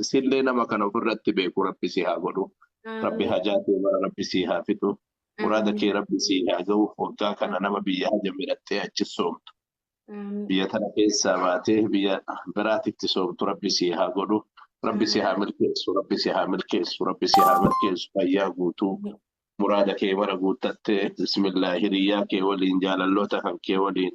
Isillee nama kana ofirratti beeku rabbi si haa godhu. Rabbi Amiin. hajaa kee mara rabbi si haa fixu. Muraada kee rabbi si haa ga'u. Waggaa kana nama biyya haja midhattee achi soomtu. Amiin. Biyya tana keessaa baatee biyya biraatitti soomtu rabbi si haa godhu. Rabbi si haa milkeessu. Rabbi si haa milkeessu. Rabbi si haa milkeessu. Fayyaa guutuu. Muraada kee mara guuttattee bismillah hiriyyaa kee waliin jaalalloota kan kee waliin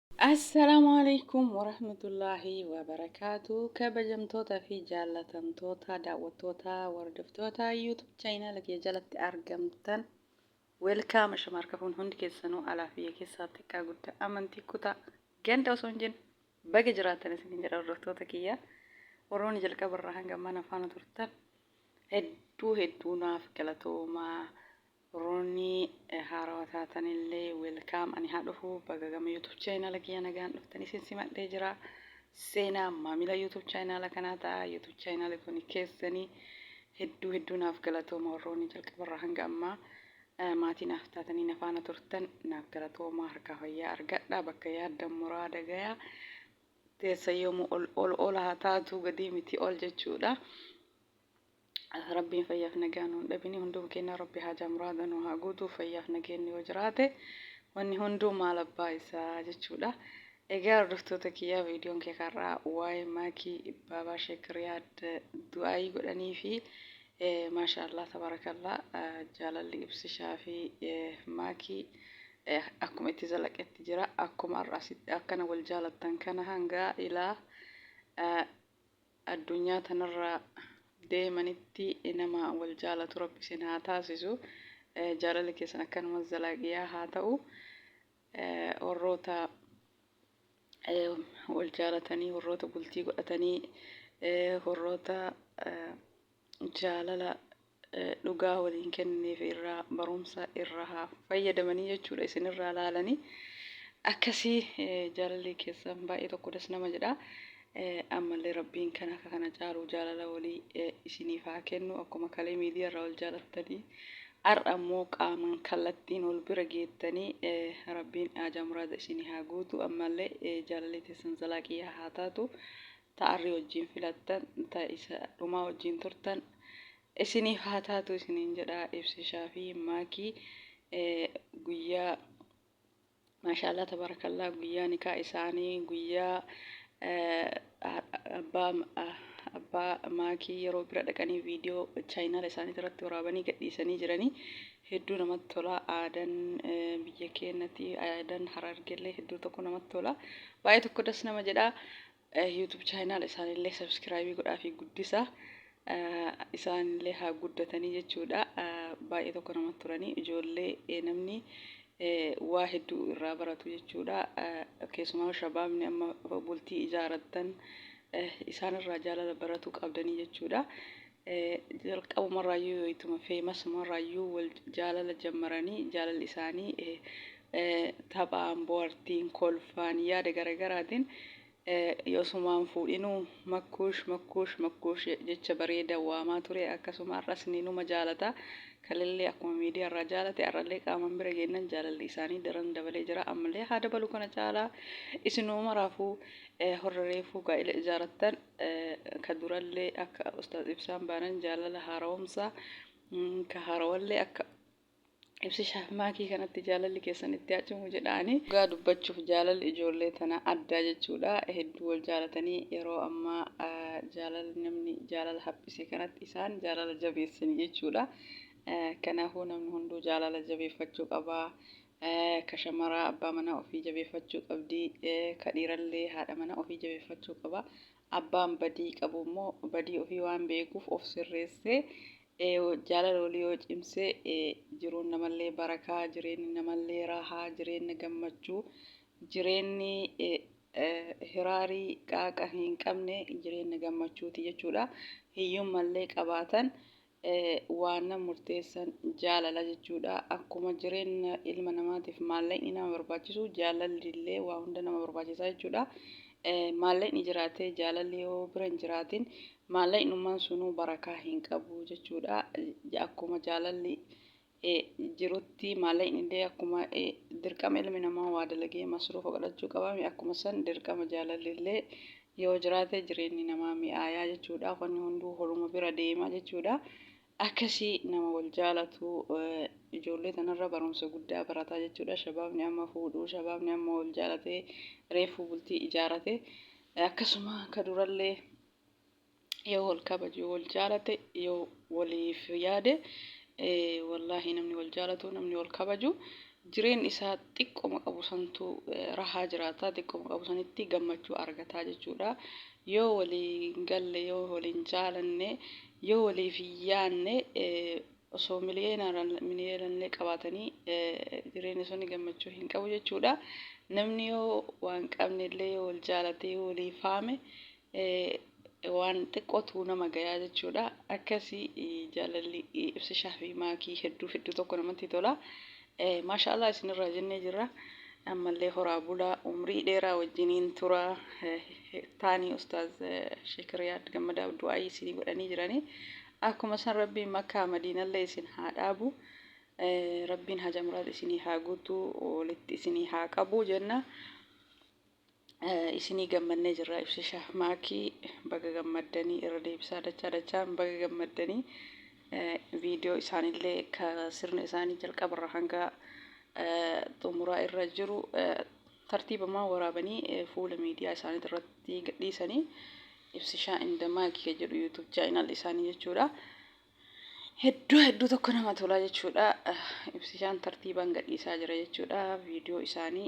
Assalaamu alaikum warahmatullaahi wabarakaatu kabajamtoota fi jaallatamtoota daawwattoota wardoftoota YouTube chaayinaala kiyya jalatti argamtan welkaam ashama harka fuun hundi keessanuu alaa fi biyya keessaa xiqqaa guddaa amantii kutaa ganda osoo hin jenne baga jiraatan isin jedha wardoftoota kiyya warroonni jalqaba irraa hanga mana faana turtan hedduu hedduu naaf galatoomaa Warroonni haarawa taatanillee welcome ani haa dhufu baga gama youtube channel kiyya nagaan dhuftan isin simadhee jira seenaa maamila youtube channel kanaa ta'a youtube channel kun keessanii hedduu hedduu naaf galatooma warroonni jalqabarraa hanga ammaa eh, maatii naaf taatanii na faana turtan naaf galatoomaa harkaa fayyaa argadha bakka yaaddan muraada gayaa teessa yoomuu ol ol ol haa taatu gadii miti ol jechuudha. Rabbiin fayyaaf nagaa nuun dhabini hunduma keenya rabbi haajaa muraada nu haa guutuu fayyaaf nageenni yoo jiraate wanni hunduu maal abbaa isaa jechuudha. Egaa hordoftoota kiyyaa viidiyoon kee kar'aa waa'ee maakii baabaa sheek riyaad du'aayii godhanii fi maashaallah tabarakallah jaalalli ibsishaa fi maakii akkuma itti zalaqetti jira akkuma har'a asitti akkana wal jaalattan kana hanga ilaa addunyaa tanarraa deemanitti nama wal jaalatu rabbi isin haa taasisu jaalalli keessan akkanuma zalaaqiyaa haa ta'u warroota wal jaalatanii warroota bultii godhatanii warroota jaalala dhugaa waliin kennineef irraa barumsa irraa haa fayyadamanii jechuudha isinirraa laalanii akkasii jaalalli keessan baay'ee tokko das nama jedha ammallee rabbiin kan akka kana caalu jaalala walii isiniif haa kennu akkuma kalee miidiyaa irraa wal jaalattanii har'a immoo qaamaan kallattiin wal bira geettanii rabbiin haajaa muraada isinii haa guutu ammallee jaalalli keessan zalaaqiyyaa haa taatu ta arri wajjiin filattan ta isa dhumaa wajjiin turtan isiniif haa taatu isiniin jedha ibsishaa fi maakii guyyaa maashaallah tabarakallaa guyyaa nikaa isaanii guyyaa abbaa abbaa maakii yeroo bira dhaqanii viidiyoo chaayinaala isaanii irratti waraabanii gadhiisanii jiranii hedduu namatti tola aadan biyya keenyatti aadan harargeellee hedduu tokko namatti tola baay'ee tokko das nama jedha YouTube channel isaanillee subscribe godhaa fi guddisa isaanillee haa guddatanii jechuudha baay'ee tokko namatti turanii ijoollee namni waa hedduu irraa baratu jechuudha keessumaa shabaabni amma bultii ijaarattan isaanirraa jaalala baratu qabdanii jechuudha Jalqabumarraayyuu wayituma famasumarraayyuu wal jaalala jammaranii jaalalli isaanii taphaan, bohartiin, kolfaan, yaada garagaraatiin osumaa hin fuudhinuu makkuush makkuush makkuush jecha bareeda waamaa ture akkasuma har'as ninuma jaalata kalellee akkuma miidiyaarraa jaalate har'allee qaamaan bira geennan jaalalli isaanii daran dabalee jira ammallee haa dabalu kana caalaa isinuma maraafuu horra reefuu gaa'ila ijaarattan ka durallee akka ustaaz ibsaan baanan jaalala haarawomsaa ka haarawallee akka ibsi shaafmaakii kanatti jaalalli keessan itti haa cimu jedhaani. Dhugaa dubbachuuf jaalalli ijoollee tanaa addaa jechuudha. Hedduu wal jaalatanii yeroo ammaa jaalala namni jaalala haphise kanatti isaan jaalala jabeessani jechuudha. Kanaafuu namni hunduu jaalala jabeeffachuu qaba. Ka shamaraa abbaa manaa ofii jabeeffachuu qabdi, ka dhiirallee haadha mana ofii jabeeffachuu qaba. Abbaan badii qabu immoo badii ofii waan beekuuf of sirreessee jaalala walii yoo cimse jiruun namallee barakaa, jireenyi namallee raahaa, jireenyi gammachuu, jireenyi hiraarii qaaqa hin qabne jireenyi gammachuuti jechuudha. Hiyyummallee qabaatan Waanna murteessan jaalala jechuudha. Akkuma jireenna ilma namaatiif maallaqni nama barbaachisu jaalalli illee waa hunda nama barbaachisaa jechuudha. Maallaqni jiraatee jaalalli yoo bira hin jiraatin maallaqnummaan sunuu barakaa hin qabu jechuudha. Akkuma jaalalli jirutti maallaqni illee akkuma dirqama ilmi namaa waa dalagee masruufa godhachuu qabaame akkuma san dirqama jaalalli illee yoo jiraate jireenyi namaa mi'aayaa jechuudha wanni hunduu holuma bira deema jechuudha akkasii nama wal jaalatu ijoollee tanarra barumsa guddaa barataa jechuudha shabaabni amma fuudhuu shabaabni amma wal jaalatee reefuu bultii ijaarate akkasuma akka durallee yoo wal kabaju wal jaalate yoo waliif yaade wallaahi namni wal jaalatu namni wal kabaju jireen isaa xiqqoma qabu santu rahaa jiraata xiqqoma qabu sanitti gammachuu argataa jechuudha yoo walii galle yoo waliin jaalanne yoo waliif yaanne osoo miliyoonallee qabaatanii jireenyi sun gammachuu hin qabu jechuudha namni yoo waan qabnellee yoo wal jaalatee yoo walii faame waan xiqqootu nama gayaa jechuudha. Akkasi jaalalli ibsishaa fi maakii hedduu hedduu tokko namatti tola. Maashaallah isinirraa jennee jirra. Ammallee horaa bulaa umrii dheeraa wajjiniin tura taanii ustaaz Shekiriyaad gammadaa du'aayii isinii godhanii jiranii. Akkuma san rabbiin makkaa madiinallee isin haa dhaabu. Rabbiin haja muraad isinii haa guutuu walitti isinii haa qabu jenna. isinii gammannee jirraa ibsa shaah maakii baga gammaddanii irra deebisaa dachaa dachaan baga gammaddanii viidiyoo isaanillee ka sirna isaanii jalqabarra hanga xumuraa irra jiru tartiibamaa waraabanii fuula miidiyaa isaanii irratti gadhiisanii ibsishaa inda maakii ka jedhu yuutuub chaayinaal isaanii jechuudha. Hedduu hedduu tokko nama tolaa jechuudha. Ibsishaan tartiibaan gadhiisaa jira jechuudha. Viidiyoo isaanii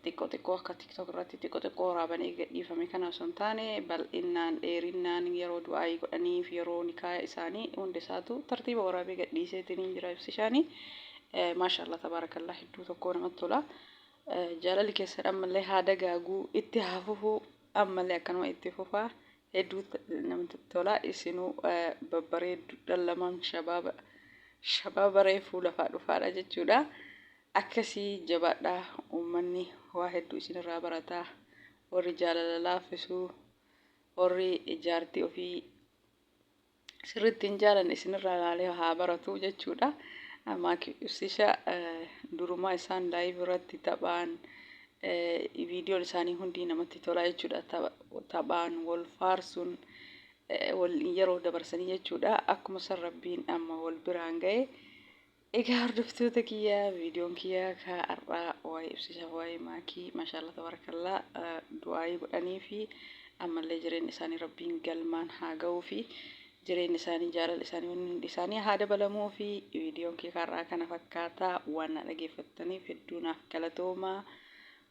xiqqoo xiqqoo akka tiktok irratti xiqqoo xiqqoo waraabanii gadhiifame kana osoo hin taane bal'innaan dheerinnaan yeroo du'aayii godhaniif yeroo nikaa isaanii hundi isaatu tartiiba waraabee gadhiiseetiin hin jira ibsishaanii maashaallah tabaarakallaa hedduu tokkoo namatti tola jaalalli keessan ammallee haa dagaaguu itti haa fufuu ammallee akkanuma itti fufaa hedduu namatti tola isinuu babbareeddu dhallamaan shabaaba shabaaba reefuu lafaa dhufaadha jechuudha. Akkasi jabaadhaa uummanni waa hedduu isin irraa barata warri jaalala laaffisu warri jaartii ofii sirriitti hin jaalanne isin irraa ilaalee haa baratu jechuudha. Maakisisha durumaa isaan laayiv irratti taphaan viidiyoon isaanii hundi namatti tolaa jechuudha. Taphaan wal faarsuun wal yeroo dabarsanii jechuudha. Akkuma san rabbiin amma wal biraan ga'e Egaa hordoftoota kiyya viidiyoon kiyya ka har'aa waa'ee ibsichaaf waa'ee maakii mashaalla tabarakallaa du'aayii godhanii fi ammallee jireenyi isaanii rabbiin galmaan haa ga'uu fi jireenyi isaanii jaalala isaanii wanni hundi isaanii haa dabalamuu fi viidiyoon kiyya ka har'aa kana fakkaataa waan na dhageeffattaniif hedduu naaf galatoomaa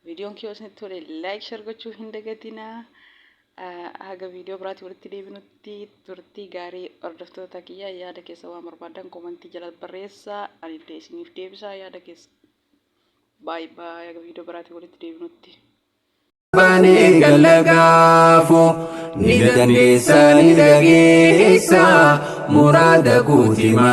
viidiyoon kiyya osinitti tole laayik shar gochuu hin dagatinaa Haga video biraati walitti deebinutti turtii gaarii hordoftoota kiyya yaada keessa waan barbaadan komantii jala barreessa anillee isiniif deebisaa yaada keessa baay baay haga video biraati walitti deebinutti. Baanee galla gaafu ni dandeessa ni dhageessa muraada guutima.